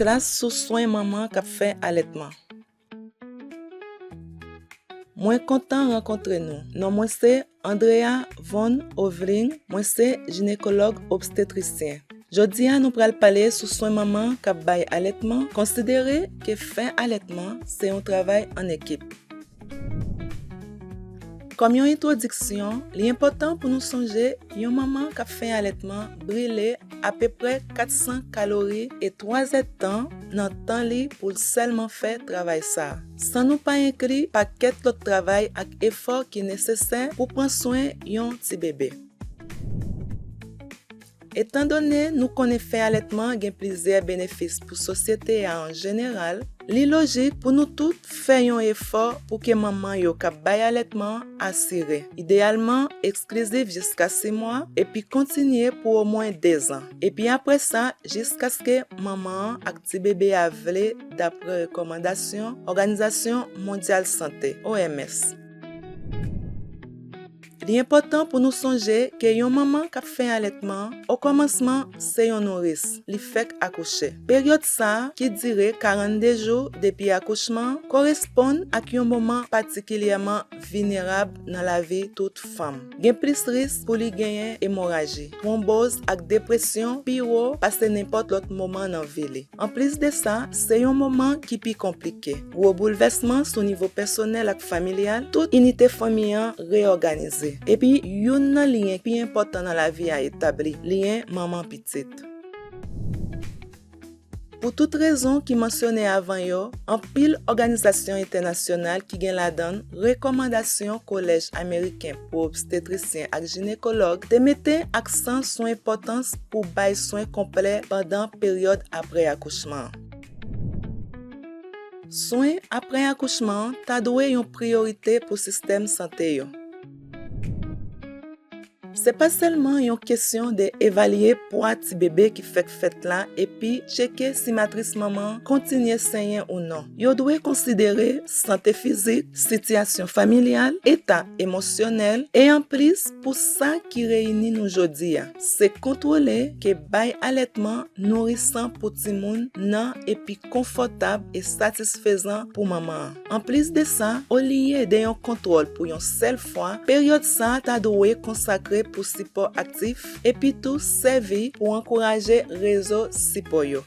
Klas sou swen manman k ap fè alètman. Mwen kontan rankontre nou. Non mwen se Andrea Von Hövling, mwen se jinekològ obstetrisyen. Jodi a nou pral pale sou swen manman k ap bay alètman, konsidere ke fè alètman se yon travay an ekip. Kòm yon entwodiksyon, li enpòtan pou nou sonje yon manman k ap fè alètman brile apeprè 400 kalori e twazèdtan nan tan li pou l sèlman fè travay sa a, san nou pa enkli pakèt lòt travay ak efò ki nesesè pou pran swen yon tibebe. Etandone nou konnen fè alètman gen plizyè benefis pou sosyete a an jeneral, li lojik pou nou tout fè yon efò pou ke manman yo k ap bay alètman asire, ideyalman eksklizif jiska si mwa, epi kontinye pou omwen dezan, epi apre sa jiskaske manman an ak tibebe a vle dapre rekòmandasyon Òganizasyon Mondyal Sante, OMS. Li enpòtan pou nou sonje ke yon manman k ap fen alètman, okòmansman, se yon nouris, li fèk akouche. Peryòd sa a, ki dire 42 jou depi akouchman, koresponn ak yon moman patikilyèman vinerab nan lavi tout fanm. Gen plis risk pou li genyen emoraji, twonboz ak depresyon pi wo pase nenpòt lòt moman nan vi li. Anplis de sa, se yon moman ki pi konplike. Gwo boulvèsman sou nivo pèsonèl ak familyal, tout inite fanmi an reyòganize. Epi, youn nan lyen ki pi enpòtan nan lavi a etabli, lyen manman-pitit. Pou tout rezon ki mansyone avan yo, anpil òganizasyon entènasyonal ki gen ladan l rekòmandasyon Kolèj Ameriken. pou obstetrisyen ak jinekològ te mete aksan sou enpòtans pou bay swen konplè pandan peryòd apre akouchman an. Swen apre akouchman an ta dwe yon priyorite pou sistèm sante yo. Se pa sèlman yon kesyon de evalye pwa tibebe ki fèk fèt la epi tcheke si matris manman an kontinye senyen ou non. Yo dwe konsidere sante fizik, sitiyasyon familyal, eta emosyonèl, e anplis pou sa ki reyini nou jodi a, se kontwole ke bay alètman nourisan pou timoun nan epi konfòtab e satisfezan pou manman an. Anplis de sa, olye de yon kontwòl pou yon sèl fwa, peryòd sa ta dwe konsakre pou sipò aktif, epi tou sèvi pou ankouraje rezo sipò yo.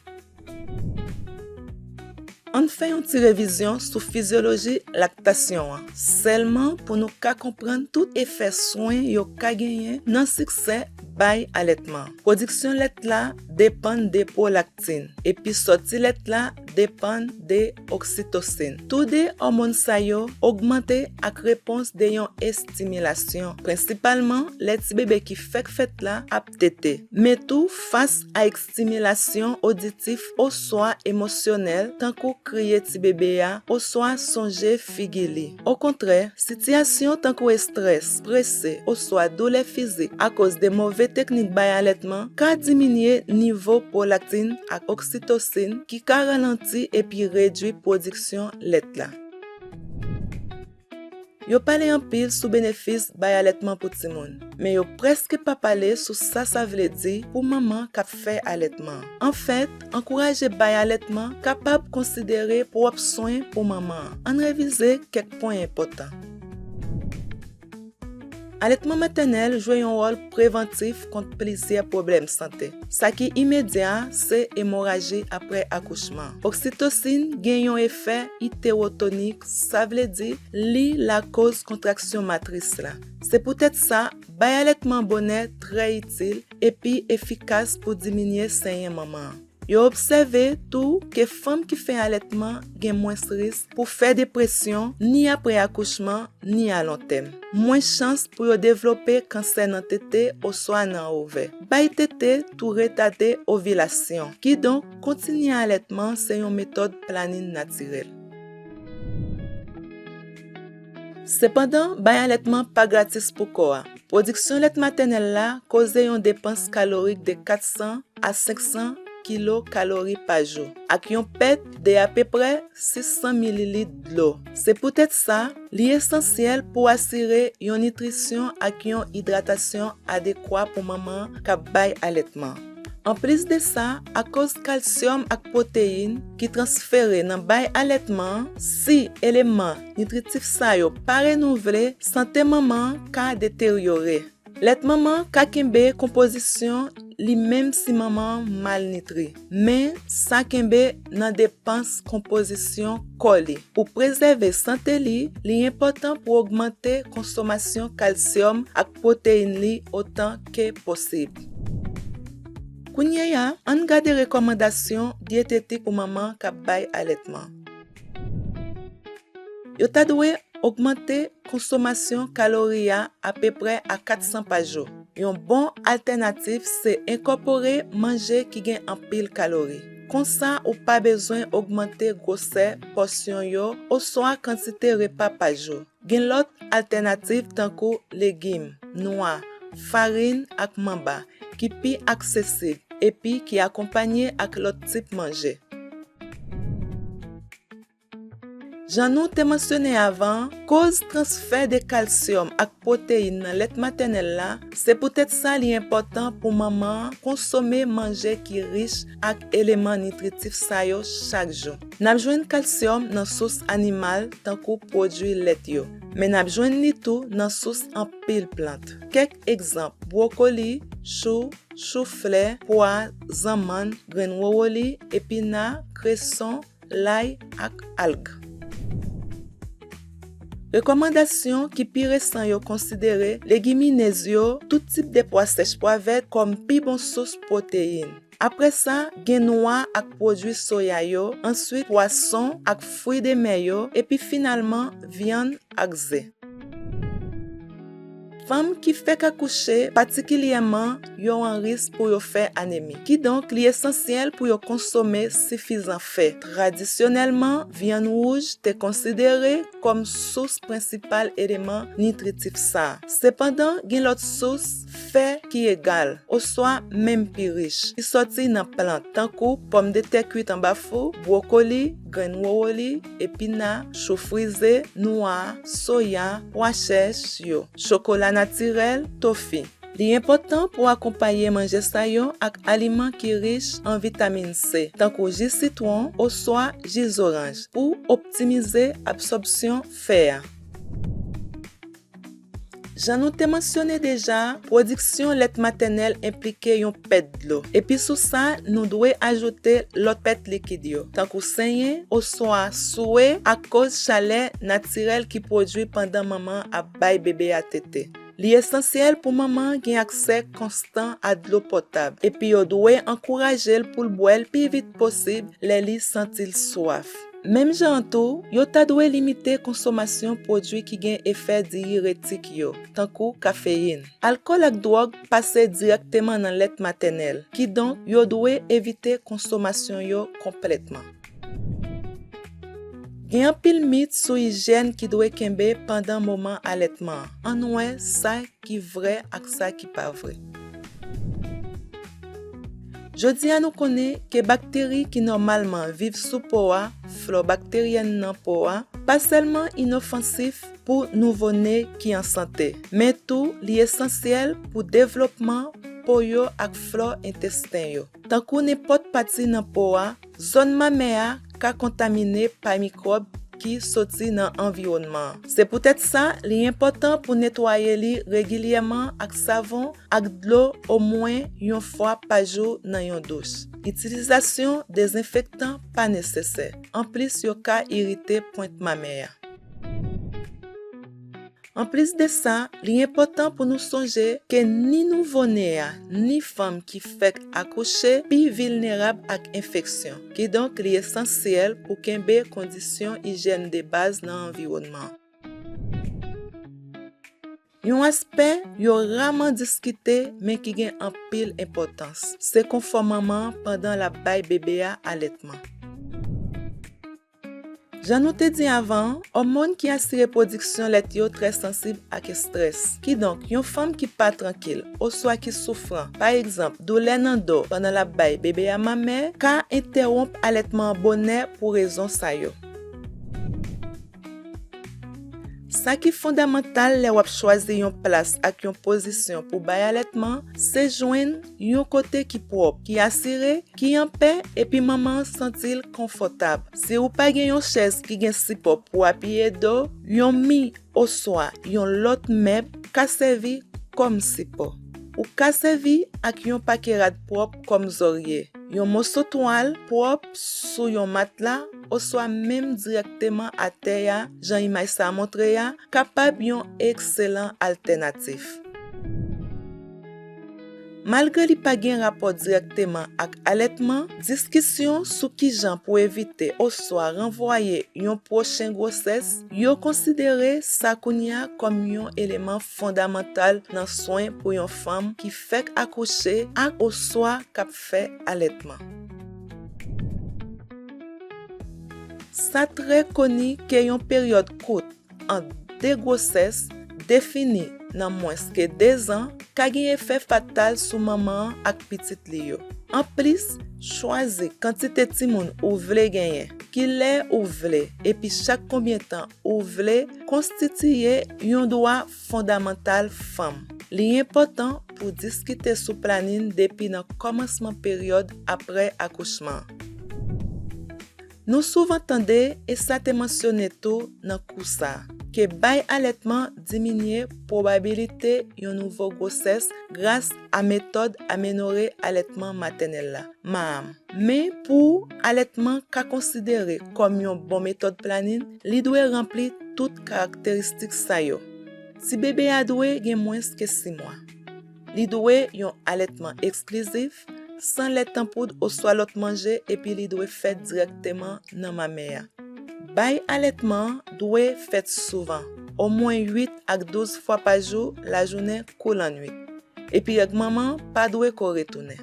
Ann fè yon ti revizyon sou fizyoloji laktasyon an, sèlman pou nou ka konprann tout efè swen yo ka genyen nan siksè bay alètman. Pwodiksyon lèt la depann depo. Oksin, epi sòti lèt la depann de oksitosin. Tou de òmon sa yo ogmante ak repons de yon estimilasyon, prensipalman lè ti bebe ki fèk fèt la ap tete, men tou fas a ekstimilasyon oditif oswa emosyonèl tankou kriye ti bebe a oswa sonje figi li. Okontrè, sitiyasyon tankou estrès, prese, oswa doulè fizik akoz de move teknik bay alètman ka diminye nivo pwolaktin ak oksitosin ki ka ralanti epi redui pwodiksyon lèt la. Yo pale anpil sou benefis bay alètman pou timoun, men yo prèske pa pale sou sa sa vle di pou manman k ap fè alètman. Anfèt, Ankouraje bay alètman kapab konsidere pwòp swen pou manman an. Ann revize kèk pwen enpòtan. Alètman matènèl jwe yon wòl prevantif kont plizyè pwoblèm sante. Sa ki imedya a se emoraji apre akouchman. Oksitosin gen yon efè itewotonik, sa vle di li lakoz kontraksyon matris la. Se poutèt sa, bay alètman bonè trè itil, epi efikas pou diminye senyen manman an. Yo obsève tou ke fanm ki fen alètman gen mwens risk pou fè depresyon ni apre akouchman ni alontèm, mwens chans pou yo devlope kansè nan tete oswa nan ovè. Bay tete tou retade ovilasyon, kidonk kontinye alètman se yon metòd planin natirèl. Sepandan, bay alètman pa gratis pou kò a. Pwodiksyon lèt matènèl la koze yon depans kalorik de 400 a 500 kilo kalori pa jou ak yon pèt de apeprè 600 mililit dlo. Se poutèt sa, li esansyèl pou asire yon nitrisyon ak yon idratasyon adekwa pou manman k ap bay alètman. Anplis de sa, akoz kalsyòm ak pwoteyin ki transfere nan bay alètman an, si eleman nitritif sa yo pa renouvle, sante manman an ka deteryore. Lèt manman an ka kenbe konpozisyon li menm si manman an malnitri, men sa kenbe nan depans konpozisyon kò li. Pou prezève sante li, li enpòtan pou ogmante konsomasyon kalsyòm ak. pwoteyin li otan ke posib. Kounyeya, ann gade rekòmandasyon dyetetik pou manman k ap bay alètman. Yo ta dwe ogmante konsomasyon kalori a apeprè a 400 pa jou. Yon bon altènatif se enkòpore manje ki gen anpil kalori. Konsa ou pa bezwen ogmante gwosè pòsyon yo oswa kantite repa pa jou. Gen lòt altènativ tankou legim, nwa, farin ak manba ki pi aksesib epi ki akonpanye ak lòt tip manje. Jan nou te mansyone avan, koz transfè de kalsyòm ak pwoteyin nan lèt matènèl la, se poutèt sa li enpòtan pou manman an konsome manje ki rich ak eleman nitritif sa yo chak jou. N ap jwenn kalsyòm nan sous animal tankou pwodui lèt yo, men n ap jwenn li tou nan sous anpil plant. Kèk egzanp, bwokoli, chou, chou flè, pwa, zanmann, grenn wowoli, epina, kreson, lay ak alg. Rekòmandasyon ki pi resan yo konsidere legiminez yo, tout tip de pwa sèch pwa vèt kòm pi bon sous pwoteyin. Apre sa, gen nwa ak pwodui soya yo, answit pwason ak fwi de mè yo, epi finalman vyann ak ze. Fanm ki fèk akouche patikilyèman yo an risk pou yo fè anemi. Kidonk, li esansyèl pou yo konsome sifizan fè. Tradisyonèlman, vyann wouj te konsidere kòm sous prensipal eleman nitritif sa a. Sepandan, gen lòt sous. fè ki egal oswa menm pi rich, ki sòti nan plant tankou pòmdetè kuit anba fou, bwokoli, grenn wowoli, epina, chou frize, nwa, soya, pwa chèch, yo, chokola natirèl, tofi. Li enpòtan pou akonpaye manje sa yo ak aliman ki rich an vitamin C, tankou ji sitwon oswa ji zoranj, pou optimize absòbsyon fè a. Jan nou te mansyone deja, pwodiksyon lèt matènèl enplike yon pèt dlo. Epi sou sa, nou dwe ajoute lòt pèt likid yo, tankou senyen oswa swe akoz chalè natirèl ki pwodui pandan manman an ap bay bebe a tete. Li esansyèl pou manman an gen aksè konstan a dlo potab, epi yo dwe ankouraje l pou l bwè l pi vit posib lè li santi l swaf. Menm jan an tou, yo ta dwe limite konsomasyon pwodui ki gen efè diyiretik yo, tankou kafeyin. Alkòl ak dwòg pase dirèkteman nan lèt matènèl, kidonk yo dwe evite konsomasyon yo konplètman. Gen anpil mit sou ijyèn ki dwe kenbe pandan moman alètman an, ann wè sa. ki vrè ak sa ki pa vrè. Jodi a nou konnen ke bakteri ki nòmalman viv sou po a, flò bakteryèn nan po a, pa sèlman inofansif pou nouvo ne ki an sante, men tou li esansyèl pou devlopman po yo ak flò entesten yo. Tankou nenpòt pati nan po a, Zòn mamè a ka kontamine pa mikwòb ki soti nan anviwònman. Se poutèt sa, li enpòtan pou netwaye li regilyèman ak savon ak dlo omwen yon fwa pa jou nan yon douch. Itilizasyon dezenfektan pa nesesè, anplis yo ka irite pwent mamè a. Anplis de sa, li enpòtan pou nou sonje ke ni nouvo ne a ni fanm ki fèk akouche pi vilnerab ak enfeksyon, kidonk li esansyèl pou kenbe kondisyon ijyèn de baz nan anviwònman. Yon aspè yo raman diskite men ki gen anpil enpòtans, se konfò manman an pandan l ap bay bebe a alètman. Jan nou te di avan an, òmòn ki asire pwodiksyon lèt yo trè sansib ak estrès. Kidonk, yon fanm ki pa trankil oswa ki soufran, pa egzanp, doulè nan do pandan l ap bay bebe a mamè, ka entèwonp alètman an bonè pou rezon sa yo. Sa ki fondamantal lè w ap chwazi yon plas ak yon pozisyon pou bay alètman se jwenn. Yon kote ki pwòp, ki asire, ki an pè epi manman an santi l konfòtab. Si ou pa gen yon chèz ki gen sipò pou apiye do, yon mi oswa yon lòt mèb ka sèvi kòm sipò. Ou ka sèvi ak yon pake rad pwòp kòm zòrye, yon moso twal pwòp sou yon matla oswa menm dirèkteman atè a jan imaj sa a montre a kapab yon ekselan altènatif. Malgre li pa gen rapò dirèkteman ak alètman, diskisyon sou kijan pou evite oswa ranvwaye yon pwochen gwosès yo konsidere sa kounye a kòm yon eleman fondamantal nan swen pou yon fanm ki fèk akouche ak oswa k ap fè alètman. Sa trè koni ke yon peryòd kout, ant de gwosès defini nan mwens ke dezan ka gen efè fatal sou manman an ak pitit li yo. Anplis, chwazi kantite timoun ou vle genyen, kilè ou vle epi chak konbyen tan ou vle konstitiye yon dwa fondamantal fanm. Li enpòtan pou diskite sou planin depi nan kòmansman peryòd apre akouchman an. Nou souvan tande, e sa te mansyone tou nan kou sa, ke bay alètman diminye pwobabilite yon nouvo gwosès gras a metòd amenore alètman matènèl la, MAAM. Men pou alètman ka konsidere kòm yon bon metòd planin, li dwe ranpli tout karakteristik sa yo. Tibebe a dwe gen mwens ke 6 mwa. Li dwe yon alètman eksklizif, san lèt tanpoud oswa lòt manje epi li dwe fèt dirèkteman nan mamè a. Bay alètman an dwe fèt souvan, omwen 8 ak 12 fwa pa jou lajounen kou lannuit, epi règ manman an pa dwe ko retounen.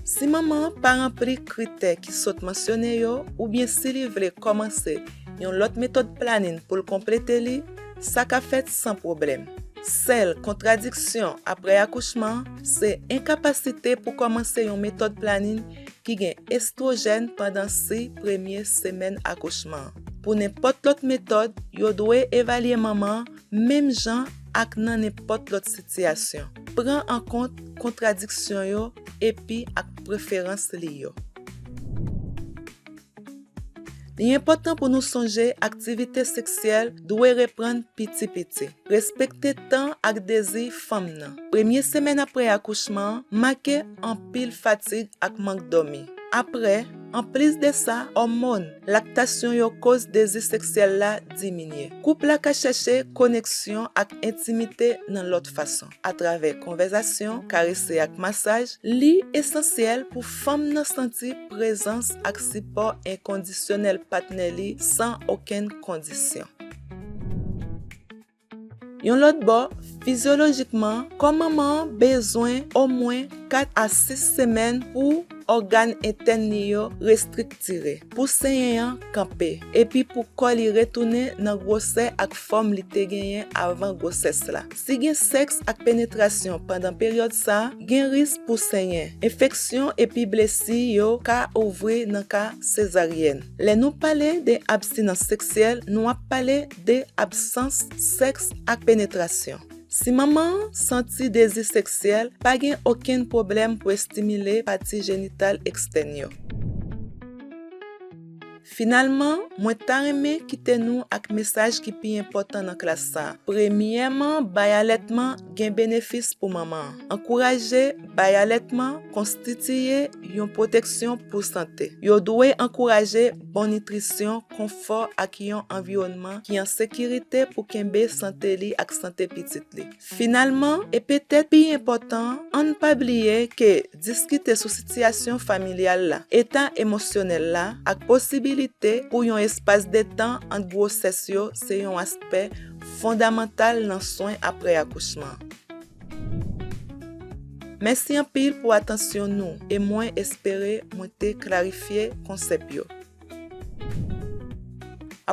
Si manman an pa ranpli kritè ki sot mansyone yo oubyen si li vle kòmanse yon lòt metòd planin pou l konplete li, sa ka fèt san pwoblèm. Sèl kontradiksyon apre akouchman se enkapasite pou kòmanse yon metòd planin ki gen estwojèn pandan si premye semèn akouchman. Pou nenpòt lòt metòd, yo dwe evalye manman an Menm jan ak nan nenpòt lòt sitiyasyon, pran an kont kontradiksyon yo epi ak preferans li yo. Li enpòtan pou nou sonje aktivite seksyèl dwe reprann piti piti. Respekte tan ak dezi fanm nan. Premye semèn apre akouchman an make anpil fatig ak mank dòmi. Apre. Anplis de sa, òmòn, laktasyon yo koz dezi seksyèl la diminye. Koup la ka chèche koneksyon ak entimite nan lòt fason, atravè konvèzasyon, karese ak masaj, li esansyèl pou fanm nan santi prezans ak sipò enkondisyonèl patnè li san okenn kondisyon. Yon lòt bò, fizyolojikman, kò manman an bezwen omwen 4 a 6 semèn pou ògàn entèn li yo restriktire, pou senyen an kanpe, epi pou kò li retounen nan gwosè ak fòm li te genyen avan gwosès la. Si gen sèks ak penetrasyon pandan peryòd sa, gen risk pou senyen, enfeksyon epi blesi yo ka ouvri nan ka sezaryèn. Lè nou pale de abstinans seksyèl, nou ap pale 2 absans sèks ak penetrasyon. Si manman an santi dezi seksyèl, pa gen okenn pwoblèm pou estimile pati jenital ekstèn yo. Finalman, mwen ta renmen kite nou ak mesaj ki pi enpòtan nan klas sa. Premyèman, bay alètman gen benefis pou manman an. Ankouraje bay alètman konstitiye yon pwoteksyon pou sante. Yo dwe ankouraje bon nitrisyon. konfò ak yon anviwònman ki an sekirite pou kenbe sante li ak sante pitit li. Finalman, e petèt pi enpòtan, ann pa bliye ke diskite sou sitiyasyon familyal la, eta emosyonèl la, ak posibilite pou yon espas detan ant gwosès yo se yon aspè fondamantal nan swen apre akouchman. Mèsi anpil pou atansyon nou e mwen espere mwen te klarifye konsèp yo.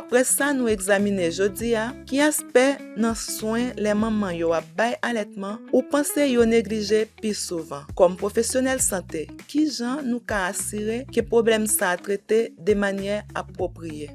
Apre sa nou egzamine jodi a, ki aspè nan swen lè manman yo ap bay alètman ou panse yo neglije pi souvan? Kòm pwofesyonèl sante, ki jan nou ka asire ke pwoblèm sa a trete de manyè apwopriye?